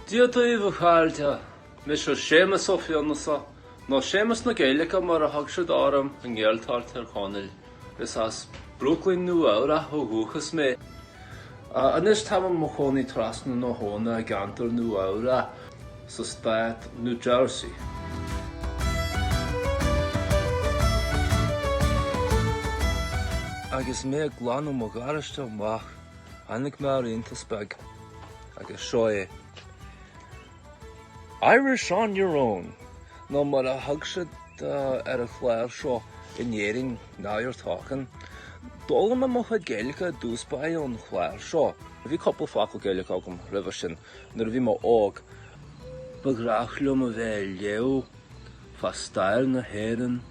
Dia daoibh a chairde, mise Séamus Ó Fianghusa, nó Séamus na Gaeilge mar a thug siad orm i nGaeltacht Thír Chonaill. Is as Brooklyn, Nua Eabhrach ó dhúchas mé. Anois táim i mo chónaí trasna na habhann i gceantar Nua Eabhrach. sa stát New Jersey. Agus mé ag glanadh mo gharáiste amach, tháinig mé ar iontas beag, agus seo é. Irish on your own, nó mar a thug siad ar an chlár seo in Éirinn, Now You're Talking. D'fhoghlaim mé mo chuid Gaeilge i dtús báire ón chlár seo. Bhí cúpla focal Gaeilge agam roimhe sin, Nuair a bhí mé óg, ba ghnách liom a bheith ag léamh fá stair na hÉireann,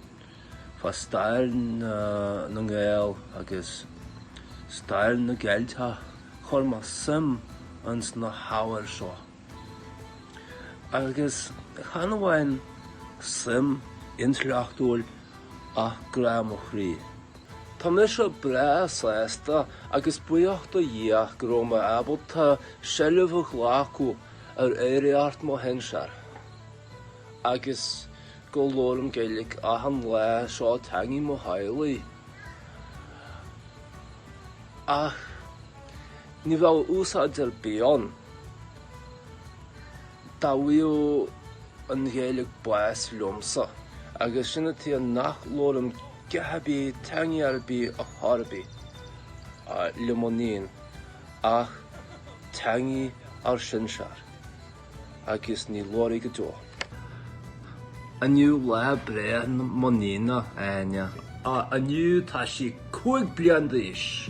fá stair na nGael agus stair na gCeilteach. Chuir mé suim ins na hábhair seo. Agus chan amháin suim intleachtúil ach grá mo chroí. Tá mise breá sásta agus buíoch do Dhia go raibh mé ábalta seilbh a ghlacadh ar oidhreacht mo shinsear agus go labhraím Gaeilge achan lá, seo teangaidh mo theaghlaigh. Ach ní bheadh úsáid ar bith ann. Dá bhfaigheadh an Ghaeilge bás liomsa, agus sin an tuige nach labhraim a dhath ar bith, teangaidh ar bith ar chor ar bith le mo níon, ach teangaidh ár sinsear, agus ní labhróidh go deo. Inniu lá breithe mo níne, Áine. Inniu tá sí cúig bliain d'aois.